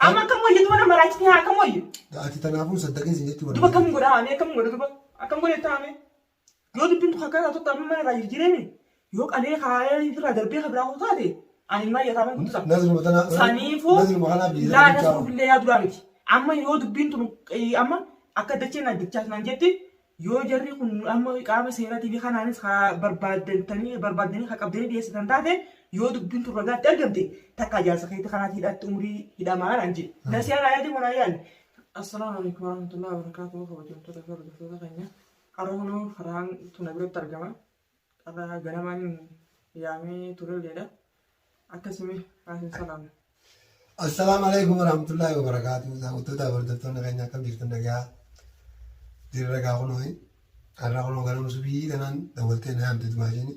Amma akkam wayya duba nama raachiti haa akkam wayya. Ati tanaafuun saddaqin sin jechuu Duba akkam godha haamee akkam godha duba akkam godha itti haamee. Yoo dubbiin tokko akkanaa tokko amma mana irraa jirjireemi yoo qalee kaayee irraa darbee kan biraa hoo taate ani ilmaa iyyataa mana kutusaa. Nazruma tana. Saniifuu Nazruma kanaa biyya. laa nasruuf illee yaa duraa miti. Amma yoo dubbiin tun eh, amma akka dacheen addachaa naan jetti Yoo jarri kun amma qaama seeratiifi kanaanis haa barbaaddantanii barbaaddanii haa qabdanii dhiyeessitan taate yoo dubbiin tun ragaatti argamte takkaa jaarsa keetti kanaatti hidhaatti umrii hidhamaa naan jedhe. Nasiyaa naa yaadee manaa yaadne. Assalaamu alaikum warahmatullahi wabarakatuh kabajamtoota fi hordoftoota keenya. Har'a kunoo farhaan tuna biratti argama. Har'a ganamaan yaamee turelleedha. Akkasumee haasin salaamu. Assalaamu alaikum warahmatullaahi wabarakaatu. Daawwattoota hordoftoonni keenya akkam jirtan nagaa dirra gaa kunoo har'a kunoo ganama subii kanaan dawwaltee na yaamte dumaashiin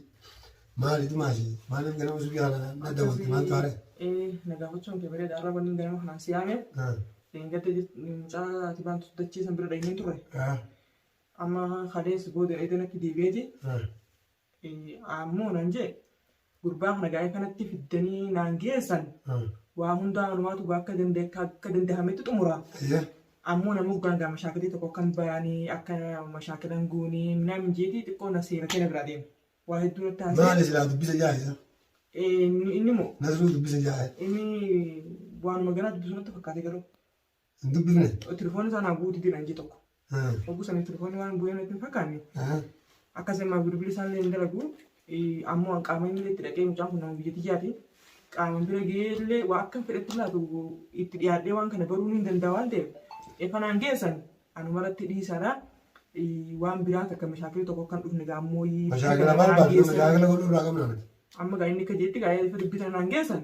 maali dumaashi maaliif ganama subii kanaan na dawwalte maaltu haare? Ee na gaafachuun kee bareeda. Har'a wanni ganama kanaan si yaame. Dheengadda mucaa ati baantu dachiisan bira dheenyeen turre. Amma kaleessa booda eega natti deebi'eeti ammoo naan jee gurbaa kana gaa'ee kanatti fiddanii naan geessan waa hundaa malumaatu gaa akka danda- akka- akka danda'ametti xumura Ayyee. ammoo nama hoggaan gaa mashaakilii tokko akkan baanii akka mashaakilan guunii minaamin jeetii xiqqoo na seeratee na biraa deema waa hedduu natti haasee Maali silaa dubbisa jaa'isa? inni immoo Nasruu dubbisa jaa'e. inni waanuma ganaa dubbisuu natti fakkaate garuu Hin dubbifne. Telefoonni isaa naa buuti jedhan jee tokko. Obbo sana telefoonni waan bu'ee natti hin fakkaanne. Akkas immoo bilbilli isaa illee hin dalagu. Ammoo qaama inni itti dhaqee mucaan kun nama biyya tiyyaati. Qaama bira gahee illee waa akka fedhetti laatu itti dhiyaadhee waan kana baruu ni danda'a waan ta'eef. Efanaan geessan anuma irratti dhiisaadha. Waan biraa takka mashaakilli tokko akka hin dhufne gaa ammoo. Mashaakila barbaadu mashaakila godhuu irraa qabna nuti. Amma gaa inni akka jeetti gaa efa dubbitan naan geessan.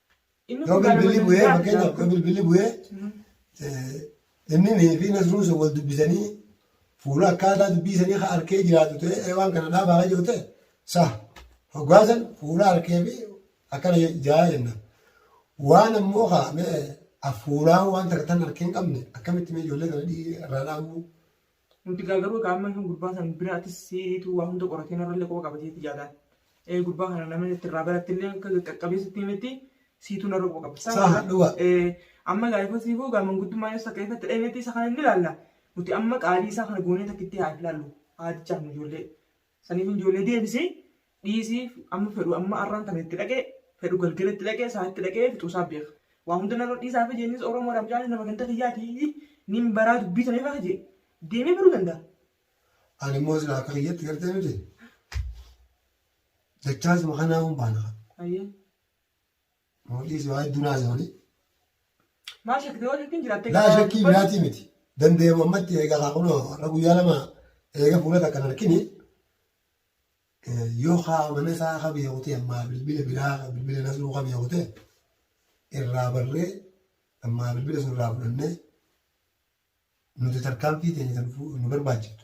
Yoo bilbilli bu'ee fakkeenyaaf yoo bilbilli bu'ee inni fi nasruun sun wal dubbisanii fuula akkaataa dubbii sanii ka arkee jiraatu ta'e waan kana dhaabaa ka jiru ta'e sa hoggaasan fuula arkee fi akkana jaa jenna. Waan ammoo ka afuuraa waan takka tan arkee hin qabne akkamitti mee ijoollee kana irraa dhaabuu Nuti gaa garuu egaa amma gurbaa san bira atis siitu waa hunda qoratee narrallee quba qaba jeetti jaadaan. Eh, Gurbaa kana namni itti irraa barattillee akka qaqqabee sitti himetti siitu narra quba qaba. Saa Saha, dhuga. Eh, Amma gaa ifa siifuu gaa manguddummaan ibsa akka ifatti dhahimetti isa kana inni ilaalla. Nuti amma qaalii isaa kana goonee takkitti haa ilaallu. Haadichaaf nu ijoollee. Saniif ijoollee deebisii dhiisii amma fedhu amma arraan tana itti dhaqee fedhu galgala itti dhaqee isaa itti dhaqee fixuusaa beeka. Waa hunda narra dhiisaa fi jeennis Oromoodha mucaan nama ganda kiyyaatii nin baraa dubbii tana faa jee deemee baruu danda'a. Ani immoo silaa akka kiyyatti gartee miti. Dachaasuma kanaa kun baana. Ayyee. Mootii si waa hedduu naasa malee. Maa shakkite yoo shakkiin jiraatte. Laa shakkii biraatii miti. Dandeemu ammatti eegaa haa kunoo har'a guyyaa lama eega fuula takka hin argini. Yoo haa mana isaa haa beeku ta'e ammaa bilbila biraa haa bilbila nasruu haa beeku ta'e irraa barree ammaa bilbila sun irraa fudhannee nuti tarkaanfii teenya kan nu barbaachiftu.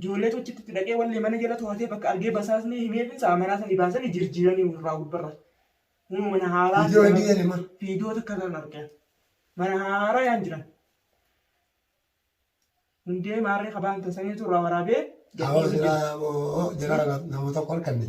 Ijoolleetu achitti itti dhaqee wallee mana jala to'atee bakka argee basaasnee himeefin sa'a manaa sanii baasanii jirjiiranii irraa gubbarra. Kunoo mana haaraa Viidiyoo hin jiran. dhiyeeni ma. Viidiyoo takka irraa hin argee. Mana haaraa yaan jiran. Hundee maarree kabaan tasaniitu irraa waraabee. Awoo gadhiisuu jira. jiraa moo jiraa namoota kolkanne.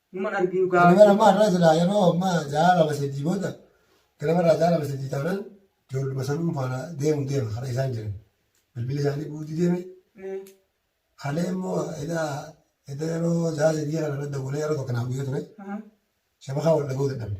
Numan arginu Ani bara gaafachuu. ammaa irraa silaa yeroo ammaa ja'a lama sadii booda ganama irraa ja'a lama sadii taanaan ijoolluma sanuun faana deemu deema haadha isaan jiran. Bilbilli isaanii guutuu deeme Eh, halee immoo edaa edaa yeroo ja'a sadii kana irra dawwalee yeroo tokko naaf guyyaa ture aha. shabakaa wal dhaga'uu dadhabne.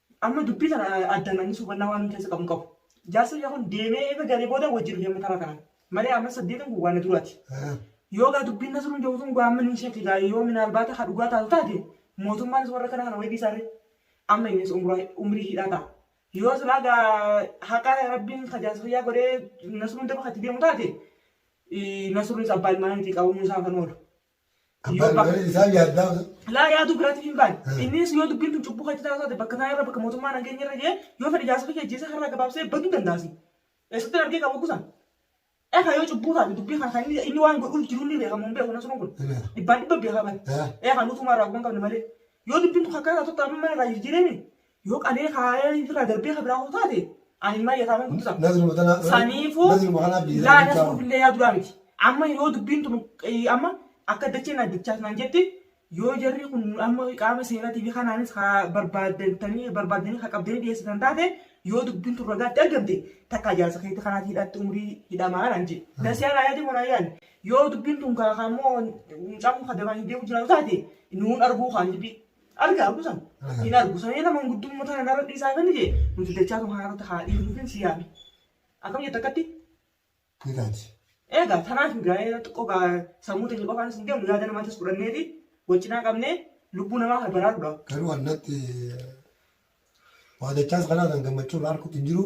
Amma dubbii tana addaan namni suubannaa waan inni keessa qabu hin qabu. Jaarsi biyya kun deemee eega galee booda wajjin hojii amma taraa kana. Malee amma saddeetan kun waan na duraati. Yoo gaa dubbiin Nasruun jedhu tun gaamma ni shake gaa yoo minaalbaata ka dhugaa taatu taate mootummaanis warra kana kana wayii dhiisaarre. Amma innis umuraa umrii hidhaa ta'a. Yoo silaa gaa haqa rabbiin ka jaarsa kiyyaa godhee Nasruun daba katti deemu taate Nasruunis abbaa ilmaaniitii qabamuun isaa kan oolu. Abbaan malee isaan yaaddaa osoo. Laa yaaduu biraatiif hin baane. Innis yoo dubbiin tun cubbuu keetti taasifate bakka taa'e irra bakka mootummaan hangeenya irra ga'e yoo fedhe jaarsa kiyya ajjeesee har'aa gabaabsee baduu dandaasi. Eessatti argee qabu kusan? Eekaa yoo cubbuu taate dubbii kana kan inni waan godhuuf jiru ni beekamu hin beeku nasruun kun. Dhibbaan dhibba beekaa bane. Eekaa nutumaa irraa guban qabne malee. Yoo dubbiin tun akkaa taatutti amma mana irraa jirjireemi Yoo qalee kaa'ee irraa darbee kan biraa taate ani ilmaan yataaman guddisa. Nazri mutanaa Saniifuu nazri mutanaa biyya laa sana nasruuf illee yaa duraa miti. Amma yoo dubbiin tun eh, amma akka dacheen addachaas naan jetti yoo jarri kun amma qaama seeratii fi kanaanis ha barbaadantanii barbaadanii ha qabdanii dhiyeessitan taate yoo dubbiin tun ragaatti argamte takka ijaarsa keetti kanaatti hidhaatti umrii hidhamaa naan jedhe. Nasiyaa naa yaadee manaa yaadne yoo dubbiin tun kaa kaa immoo mucaan kun kadamaan hin deemu jiraatu taate nuun arguu kaan dubbii Arga argu san. Hin argu san jedha manguddumma tana narra dhiisaa kan jee nuti dachaa tun haarota haa dhiifnu kan si yaame. Akkam jetta akkatti? Ni taati. Egaa tanaaf gaa'ee xiqqoo gaa sammuu teenya qofaanis hin deemu yaada namaatis fudhanneeti waccinaa qabnee lubbuu namaa kana baraaruudhaaf. Garuu annatti waa dachaas kanaa kan gammachuu irraa harkutti hin jiru.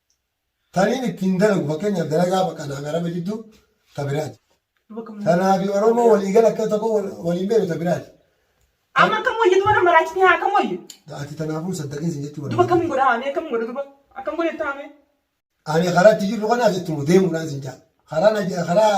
taniin ittiin dalagu fakkeenyaaf dalagaa bakka naaf araba jiddu ta biraati. Tanaafi Oromoo waliigala akka tokko waliin beeku ta biraati. Amma akkam wayya duba nama raachitee haa akkam wayya. Ati tanaafuu saddaqiin sin jechuu Duba akkam godha haamee akkam godha duba akkam godha itti haamee. Ani karaa itti jirru kana asitti deemuudhaan sin jaa. Karaa karaa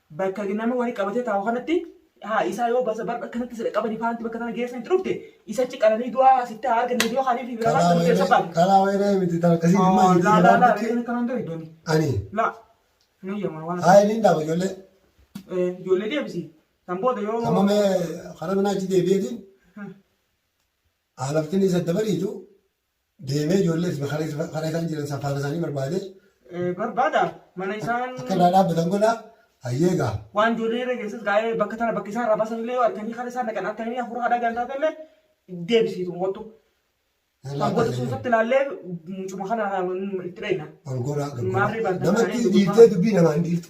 Bakka nama wali qabatee taa'u kanatti haa isaa yoo basa barba akkanatti sida qabani faanti bakka tana geessan itti dhufte isa ci qalanii du'aa sitti haa arganne yoo kaaniif fi biraa baasa murteessa baate. Kalaa wayree miti taa kasii Ah, dhimma laa laa laa jiru. inni kanaan gari dooni. Ani Laa. Ni yamaa waan. haa inni dhaaba ijoollee Eh, Ijoollee deebisi. Kan booda yoo. amma mee karaa minaa achi deebi'eetiin haalaftiin isa dabariitu deemee ijoollee fi karaa isaan jiran san faana isaanii barbaade Eh, barbaada mana isaan akka irraa dhaabbatan godha hayyee gaa waan ijoollee irra geessus gaa'ee bakka tana bakka isaan irraa baasan illee yoo arganii karaa isaan dhaqan akka inni hafuura haadhaa gantaa ta'ellee deebisiitu wattu. Kan goota sun irratti ilaallee mucuma kana itti dheeyna. ol goraa Maarree barbaada. namatti dhiirtee dubbii namaa hin dhiirtu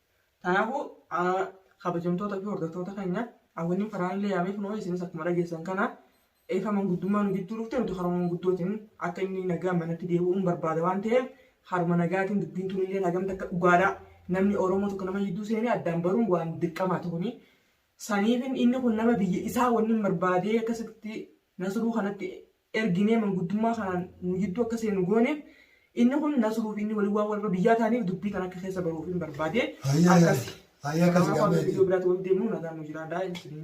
Kanaafuu kabajamtoota fi hordoftoota keenya hawwanni faraan illee yaamee kunoo isinis akkuma dhageessan kana eefa manguddummaa nu gidduu dhufte nuti haruma manguddootiin akka inni nagaa manatti deebi'uun barbaada waan ta'eef haruma nagaatiin dubbiin tun illee hagamta akka dhugaadhaa namni Oromoo tokko nama jidduu seenee addaan baruun waan dirqamaa ta'uni. Saniifin inni kun nama biyya isaa wanni barbaadee akkasitti nasruu kanatti erginee manguddummaa kanaan nu jidduu akka seenu goone. Inni kun Nasruu fi inni waliin waan warra biyyaa ta'aniif dubbii kana akka keessa baruuf hin barbaade. Hayyee, Akkasi. hayyee akkas Kanaaf hanga gaamee viidiyoo biraatti walitti deemnu nagaan nu jiraadhaa isiniin jedha.